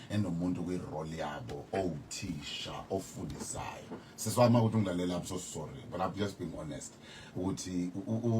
enomuntu kwi-role yabo owuthisha ofundisayo siswama ukuthi ungilalela i'm so sorry but i'm just being honest ukuthi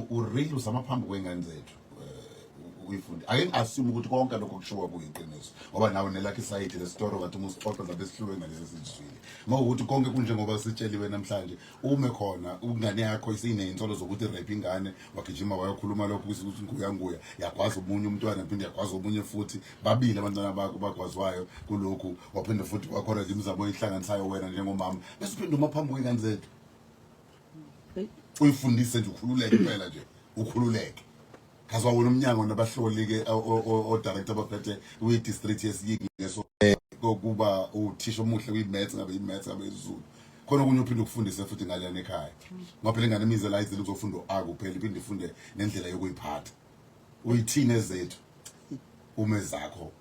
ureal usama phambi kwey'ngane zethu eh, uyifundi ake ngi-assume ukuthi konke lokho kushiwo kuyiqiniso ngoba nawe nelakhi isayidi lesitoro kathi uma usixoxa zabe sihluke ngalesi sizwile ngokuthi konke kunjengoba sitsheliwe namhlanje ume khona ingane yakho isineyinsolo zokuthi rape ingane wagijima wayokhuluma lokho ukuthi nguyanguya yagwaza omunye umntwana phinde yagwaza omunye futhi babili abantwana bakho bagwazwayo kulokhu waphinde futhi wakhona imizamo oyihlanganisayo wena njengomama bese uphinde uma phambi kwengane zethu uyifundise nje ukhululeke impela nje ukhululeke kaze wawona umnyango nabahloli-ke o-director abaphethe kwi-district yesiyingi ngeso kokuba uthisha omuhle kwi-maths ngabe i-maths ngabe izulu khona okunye uphinde ukufundise futhi ngaleyana ekhaya ngoba phela ingane imize la izile uzofunda u-a kuphela iphinde ifunde nendlela yokuyiphatha uyithini ezethu uma ezakho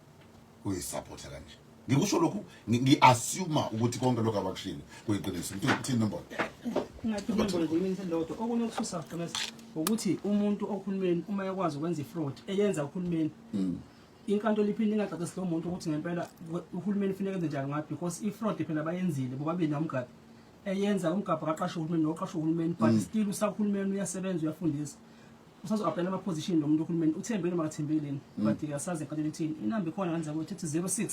uyisupporta kanje ngikusho lokhu ngiassume ukuthi konke lokho abakushilo kuyiqiniso ngithi uthini nombono ngingathimbolodwa okunye okuthusa gomesa ukuthi umuntu ohulumeni uma ekwazi ukwenza ifraud eyenza uhulumeni mm. inkantolo iphinde ingacacisi lo muntu ukuthi ngempela uhulumeni funeka enze njani ngathi because ifraud phela bayenzile bobabili nomgabi eyenza umgabha kaqashe uhulumeni noqashe uhulumeni but mm. still usahulumeni uyasebenza uyafundisa usazo-aplayela ama-position lo muntu uhulumeni uthembile noma akathembile yini mm. but asazi eqalele ithini inamba ikhona kanjani kuyo thithi 06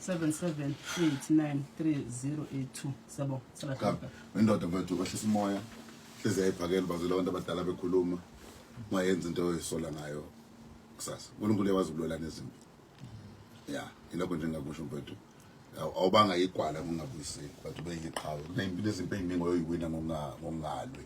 77893082 siyabonga salahlaka indoda mfethu kwehlisa umoya hlezi yayiphakela bazwela abantu abadala bekhuluma mayenza into oyisola ngayo kusasa unkulunkulu uyawazi ukulwela nezimpi ya yilokho nje ngakusho mfethu awubanga igwala ngongabuyiseki but ubeyiqhawe kuneyimpi nezimpi eyiningi oyoyiwina ngongalwi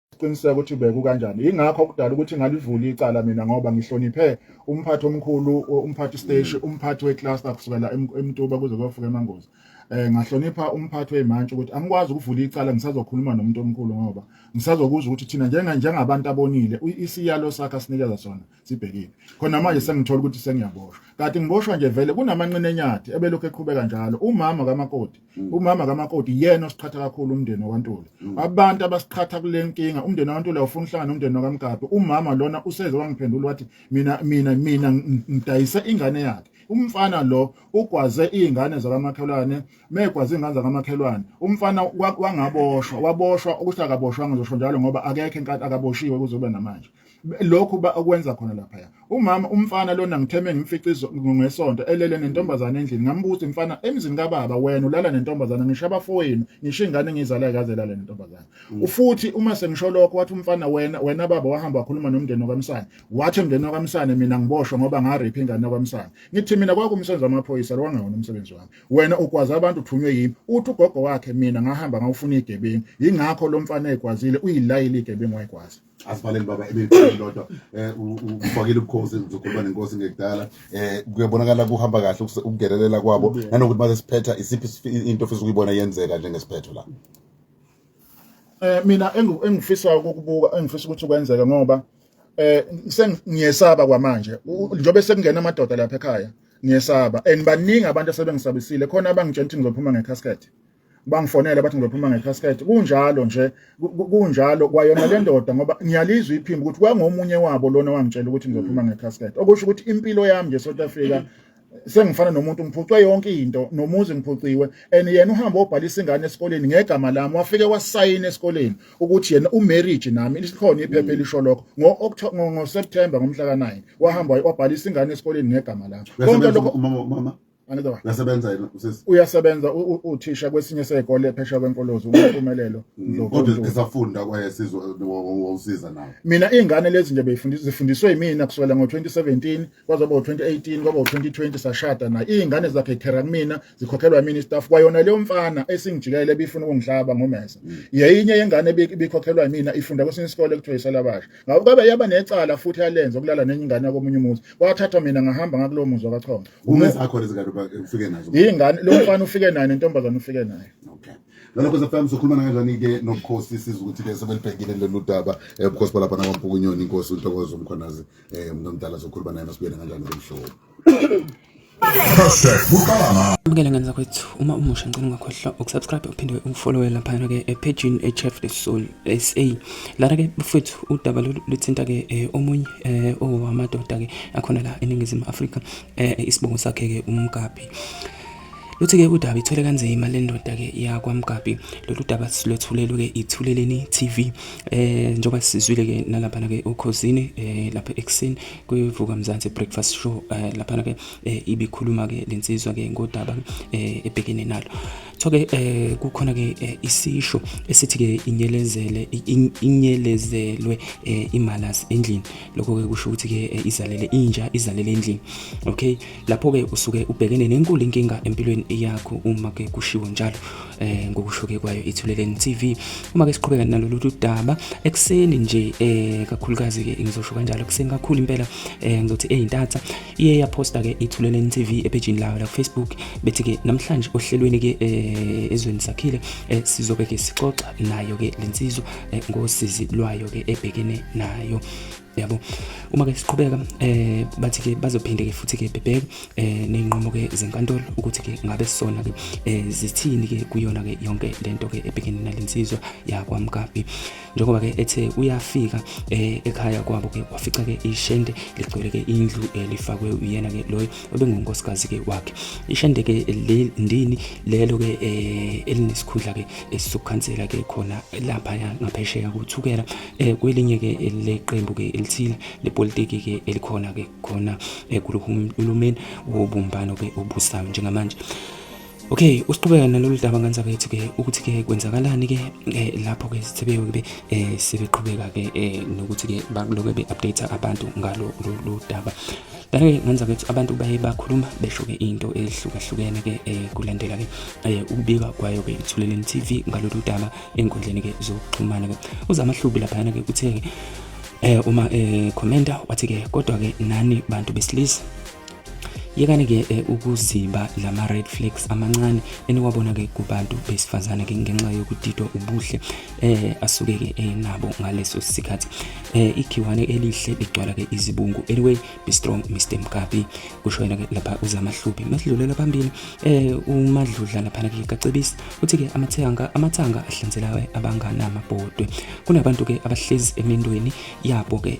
siqiniseka ukuthi beku kanjani ingakho kudala ukuthi ngalivula icala mina ngoba ngihloniphe umphathi omkhulu umphathi station mm. umphathi wecluster kusukela emtuba kuze kuyofika emangozi eh ngahlonipha umphathi wemantshi ukuthi angikwazi ukuvula icala ngisazokhuluma nomuntu omkhulu ngoba ngisazokuzwa ukuthi thina njenga njengabantu abonile isiyalo sakhe sinikeza sona sibhekile khona manje sengithola ukuthi sengiyaboshwa kade ngiboshwa nje vele kunamanqina enyathi ebelokhu eqhubeka njalo umama kamakoti mm. umama kamakoti yena osiqhatha kakhulu umndeni wakwantuli mm. abantu abasiqhatha kule nkinga umndeni wakwantuli awufuna uhlangana umndeni wakamgabe umama lona useze wangiphendula wathi mina mina mina ngidayise ingane yakhe umfana lo ugwaze izingane zakamakhelwane megwaze izingane zakamakhelwane umfana wangaboshwa waboshwa ukuthi akaboshwanga ngizosho njalo ngoba akekho inkatha akaboshiwe kuzobe namanje lokhu ba okwenza khona lapha ya umama umfana lona ngitheme ngimfica ngesonto elele nentombazane endlini ngambuza mfana emzini kababa wena ulala nentombazane ngisho abafowenu ngisho ingane ngizalayo kaze lale nentombazane mm. ufuthi uma sengisho lokho wathi umfana wena wena baba wahamba wakhuluma nomndeni wakamsane wathi umndeni wakamsane mina ngiboshwe ngoba ngaripha ingane wakamsane ngithi mina kwakumsenza amaphoyisa lwangawona umsebenzi wami wena ugwaze abantu uthunywe yimi uthi ugogo wakhe mina ngahamba ngawufuna igebengu yingakho lo mfana ekwazile uyilayile igebengu wayikwazi asivalele baba ebelifoni lodwa um ufakile ubukhosi uzokhuluma nenkosi ngekudala um kuyabonakala kuhamba kahle ukungelelela kwabo nanokuthi maze siphetha isiphi into ofisa ukuyibona yenzeka njengesiphetho la um mina engifisayo ukukubuka engifisa ukuthi kwenzeke ngoba um sengiyesaba kwamanje njengoba sekungena amadoda lapha ekhaya ngiyesaba and baningi abantu asebengisabisile khona abangitshela ukuthi ngizophuma ngecasket bangifonele bathi ngizophuma ngecasket kunjalo nje kunjalo kwayona le ndoda ngoba ngiyalizwa iphimbo ukuthi kwangomunye wabo lona wangitshela ukuthi ngizophuma ngecasket okusho ukuthi impilo yami nje South Africa sengifana nomuntu ngiphucwe yonke into nomuzi ngiphuciwe and yena uhamba obhalisa ingane esikoleni ngegama lami wafike wasayina esikoleni ukuthi yena umarriage nami lisikhona iphepha elisho lokho ngo September ngomhla ka9 wahamba wabhalisa ingane esikoleni ngegama lami konke lokho mama Angidoba. Uyasebenza yena usisi. Uyasebenza uthisha kwesinye sekole phesha kwenkolozo umpumelelo Ndlovu. Kodwa esafunda kwaye sizwe wawusiza nawe. Mina izingane lezi nje beyifundisa zifundiswe yimina kusukela ngo2017 kwaze kwaba 2018 kwaba 2020 sashada naye. Izingane zakhe thera kumina zikhokhelwa yimina istaff kwayona leyo mfana esingijikelele bifuna ukungihlaba ngomesa. Mm. Yeyinye yengane ebikhokhelwa yimina ifunda kwesinye isikole kuthiwa isalabasha. Ngakho kabe yaba necala futhi yalenza ukulala nenye ingane yakomunye umuzi. Wathatha mina ngahamba ngakulowo muzi wakachonga. Uma zakho lezi kanti ufike nazo. Ingane lo mfana ufike naye nentombazane ufike naye. Okay. Nalokho sefam sokhuluma kanjani ke nobukhosi siza ukuthi ke sebelibhekile lolu daba eh, ubukhosi balapha nakwampukunyoni inkosi uNtokozo uMkhonazi eh umuntu omdala sokhuluma naye masibuyele kanjani kumhlobo. Bukele ngane zakwethu uma umusha ngicela ungakhohlwa ukusubscribe uphinde ungifollowele laphana ke ephejini eChef the Soul SA Lana ke mfethu udaba luthinta ke eh, omunye eh, owamadoda ke akhona la eNingizimu Afrika eh, isibongo sakhe ke uMgabhi. Luthi ke udaba ithwele kanzima le ndoda ke yakwaMgabhi. Lolu daba silwethulelwe ke ithuleleni TV. Eh njoba sizwile ke nalapha ke ukhosini eh lapha ekseni kuvuka Mzansi breakfast show eh lapha ke eh, ibikhuluma ke lensizwa ke ngodaba eh ebhekene nalo. Thoke eh kukhona ke eh, isisho esithi ke inyelezele inyelezelwe eh, imalas endlini lokho ke kusho ukuthi ke eh, izalele inja izalele endlini okay lapho ke usuke ubhekene nenkulu inkinga empilweni yakho uma ke kushiwo njalo eh ngokusho ke kwayo ithuleleni TV uma ke siqhubeka nalolu daba ekseni nje eh kakhulukazi ke ngizosho kanjalo ekseni kakhulu impela eh ngizothi ezintatha iye yaphosta-ke ithuleleni tv ephejini layo lakufacebook bethi-ke namhlanje ohlelweni-ke eh, ezweni sakhile eh, sizobe-ke sixoxa nayo-ke le nsizwa eh, ngosizi lwayo-ke ebhekene nayo yabo uma ke siqhubeka eh bathi ke bazophinde ke futhi ke bebheke eh nezinqumo ke zenkantolo ukuthi ke ngabe sona ke eh zithini ke kuyona ke yonke lento ke ebhekene nalensizwa yakwaMkapi njengoba ke ethe uyafika eh, ekhaya kwabo ke wafica ke ishende ligcwele ke indlu elifakwe eh, uyena ke loyo obengunkosikazi ke wakhe ishende ke ndini lelo ke eh, elinesikhundla ke esizokhansela ke khona lapha ngaphesheya kuthukela kwelinye ke leqembu ke elithile lepolitiki ke elikhona ke khona kulomeni wobumbano ke obusayo njengamanje Okay, usiqhubeka nalolu daba ngane zakwethu ke ukuthi ke kwenzakalani ke eh, lapho ke sithebeke ke eh sebeqhubeka ke eh, nokuthi ke bakuloke be update abantu ngalo lo daba. Kanti ngane zakwethu abantu baye bakhuluma besho ke into ehlukahlukene ke eh, kulandela ke eh, ukubika kwayo ke ithuleleni TV ngalolu daba enkundleni ke zokuxhumana ke. Uzama hlubi lapha ke uthe eh uma eh commenta wathi ke kodwa ke nani bantu besilisa yekani ke eh, ukuzimba lama red flags amancane eniwabona ke kubantu besifazane ke ngenxa yokudidwa ubuhle eh asuke ke enabo eh, ngaleso sikhathi eh ikhiwane elihle ligcwala ke izibungu anyway be strong Mr Mkapi kusho yena ke lapha uzamahluphi masidlulela phambili eh umadludla lapha ke kacebisi uthi ke amathanga amathanga ahlanzelayo abanganama bhodwe kunabantu ke abahlezi emindweni yabo ke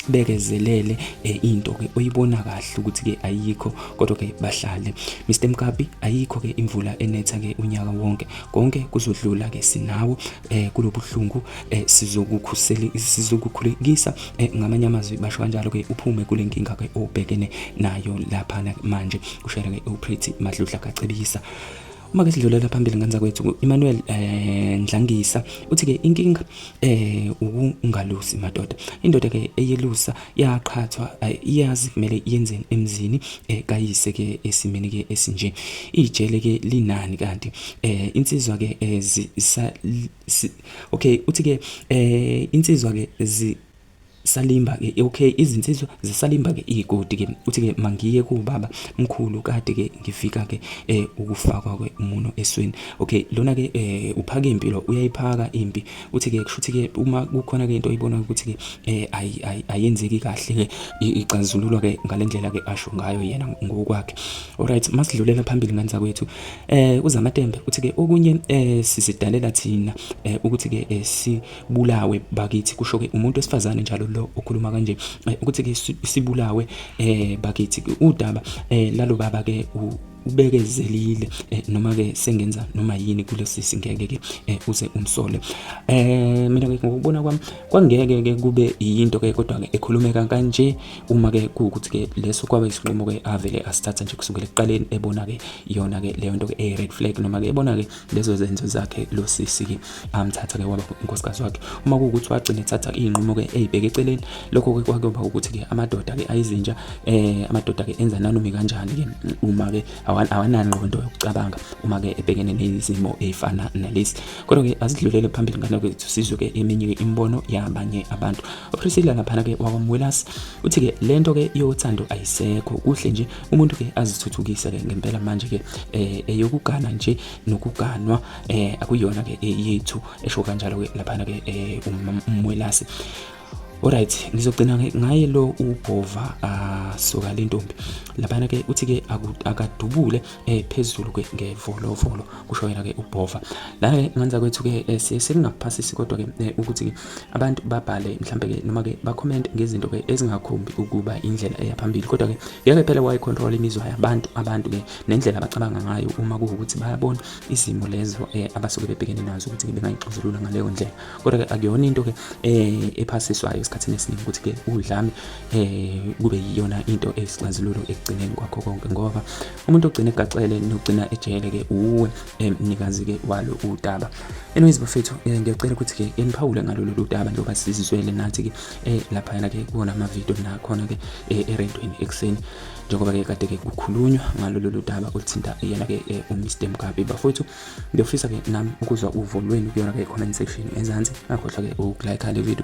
bekezelele eh, into ke oyibona kahle ukuthi ke ayikho kodwa ke bahlale Mr Mkabi ayikho ke imvula enetha ke unyaka wonke konke kuzodlula ke sinawo eh, kulobuhlungu eh, sizokukhusela sizokukhulekisa ngamanye amazwi basho kanjalo ke uphume kule nkinga ke obhekene nayo lapha manje kushela ke uPretty Madludla kacebisa Uma-ke sidlulela phambili ngenza kwethu u-Emmanuel eh, Ndlangisa uthi-ke inkinga eh, ukungalusi madoda. Indoda-ke eyelusa yaqhathwa eh, iyazi kumele yenzeni emzini eh, kayise-ke esimeni-ke esinje. Ijele-ke linani kanti eh, insizwa-ke eh, zi, sa, si, okay uthi-ke eh, insizwa-ke zi salimba ke okay izinsizwa zisalimba ke igodi ke uthi ke mangiye ku baba mkhulu kade ke ngifika ke eh ukufakwa ke umuno esweni okay lona ke eh uphaka impilo uyayiphaka impi uthi ke kushuthi ke uma kukhona ke into oyibona ukuthi ke eh ayi ayenzeki kahle ke ixazululwa ke ngalendlela ke asho ngayo yena ngokwakhe alright masidlulela phambili ngani zakwethu eh uzamatembe uthi ke okunye eh sizidalela thina eh ukuthi ke eh, si bulawe bakithi kusho ke umuntu wesifazane njalo lo okhuluma kanje eh, ukuthi ke sibulawe eh bakithi udaba eh lalo baba ke ubekezelile eh, noma ke sengenza noma yini kulesi singeke ke eh, uze umsole eh mina ke ngokubona kwami kwangeke ke kube yinto ke kodwa ke ekhulumeka kanje uma ke kuukuthi ke leso kwaba isinqumo ke avele asithatha nje kusukela ekuqaleni ebona ke yona ke leyo nto ke e red flag noma ke ebona ke lezo zenzo zakhe lo sisi-ke amthatha-ke waba unkosikazi wakhe uma kuwukuthi wagcina ethatha iy'nqumo-ke ey'bheke eceleni lokho-ke kwakuyoba ukuthi-ke amadoda-ke ayizinja um amadoda-ke enza nanumi kanjani-ke uma-ke awanangqondo yokucabanga uma-ke ebhekene nezimo ey'fana nalezi kodwa-ke asidlulele phambili ngane kwethu sizwe-ke eminye-ke imibono yabanye abantu upriscilla laphana-ke wakwamwelasi uthi-ke le nto-ke yothando ayisekho kuhle nje umuntu ke azithuthukise ke ngempela manje ke eh eyokugana nje nokuganwa eh akuyona ke eyethu esho kanjalo ke lapha ke eh, umwelasi Alright ngizogcina ngaye lo ubhova asuka ah, lentombi laphana ke uthi ke akadubule eh phezulu ke ngevolovolo kusho yena ke ubhova la ke ngenza kwethu ke eh, siye singakuphasisi kodwa ke eh, ukuthi ke abantu babhale mhlambe ke noma ke ba comment ngezinto ke ezingakhombi ukuba indlela eya phambili kodwa ke ngeke phela wayi control imizwa yabantu abantu ke nendlela abacabanga ngayo uma kuwukuthi bayabona izimo lezo eh, abasuke bebhekene nazo ukuthi ke bengayixazulula ngaleyo ndlela kodwa ke akuyona into ke ephasiswayo esikhathini esiningi ukuthi ke udlame kube yiyona into eyisixazululo ekugcineni kwakho konke ngoba umuntu ogcina egacele nogcina ejele-ke uwe mnikazi-ke walo udaba anyways bafethu eh, ngiyacela ukuthi-ke eniphawule ngalo lolu daba njengoba sizizwele nathi-ke um laphayana-ke kuwona amavidiyo nakhona-ke eh, erentweni ekuseni njengoba-ke kade-ke kukhulunywa ngalo lolu daba oluthinta yena-ke umr mgabe bafowethu ngiyofisa-ke nami ukuzwa uvo lwenu kuyona-ke comment section ezansi akhohlwa-ke ukulike le video